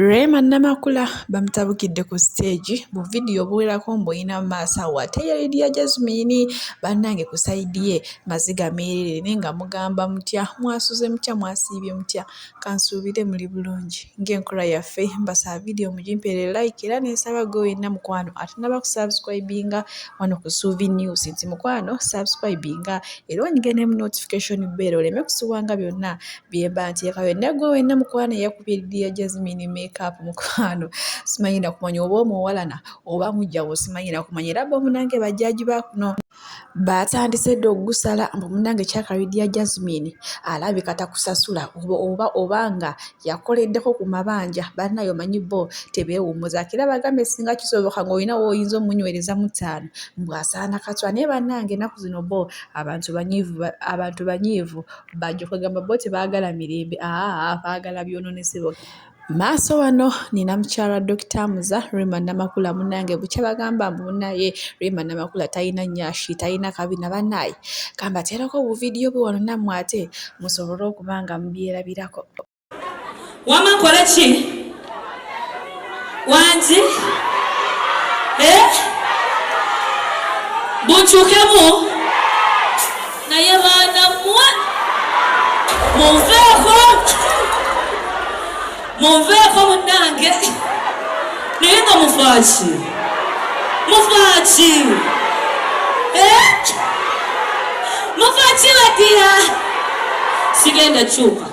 Rema Namakula bamutabukidde ku siteegi mu vidiyo obuwerako mbuyina mu maaso awo ate ye Lydia Jazmine bannange ku sayidi ye maziga meereere naye nga mugamba mutya mwasuze mutya mwasiibye mutya kansuubire muli bulungi ng'enkola yaffe mbasaba vidiyo mugimpeere layiki era ne nsaba ggwe wenna mukwano atannaba kusabusikwayibinga wano ku Suubi News nti mukwano sabusikwayibinga era onyige ne mu notifikashoni bbeere oleme kusubwa nga byonna. bye mba nteekayo naye gwe wenna mukwano eyakubye ddiya jazimini makeup mukwano simanyi nakumanya oba omuwalana oba mujjawo simanyi nakumanya era bo munange bajjaji bakuno baatandise dda okugusala mbu munange kyakabiddiya jazimini alabika takusasula oba oba nga yakoleddeko ku mabanja bannayo manyi bo tebeewummuzako era bagambe singa kisoboka ng'olina woyinza omunywereza mu ttaano mbwasaana katwa naye bannange enaku zino bo abantu banyiivu abantu banyiivu bajjo kwegamba bo tebagala mirembe aa bagala byononese boka maaso wano nina mukyala dokita muza rima namakula munange bukya bagamba mbu munaye rima namakula talina nyashi talina kabina banaye kambaterako buvidiyo bwe wano nammwe ate musobole okuba nga mubyerabirako wama nkole ki wangi eh? bunkyukemu naye baana mwe munveeko munveeko munange naye nga mufaaki mufaaki eh? mufaaki badiya sigenda kyuka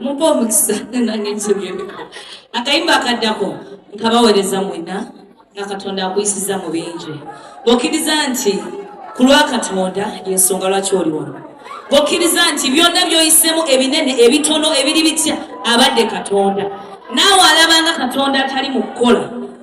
muba omukisa nange nkibyemiko akayimba akaddako nkabawereza mwena nga katonda akuyisiza mu bingi bwokkiriza nti ku lwa katonda yensonga lwaki oli wano bwokkiriza nti byonna byoyisemu ebinene ebitono ebiri bitya abadde katonda naawe alabanga katonda atali mu kukola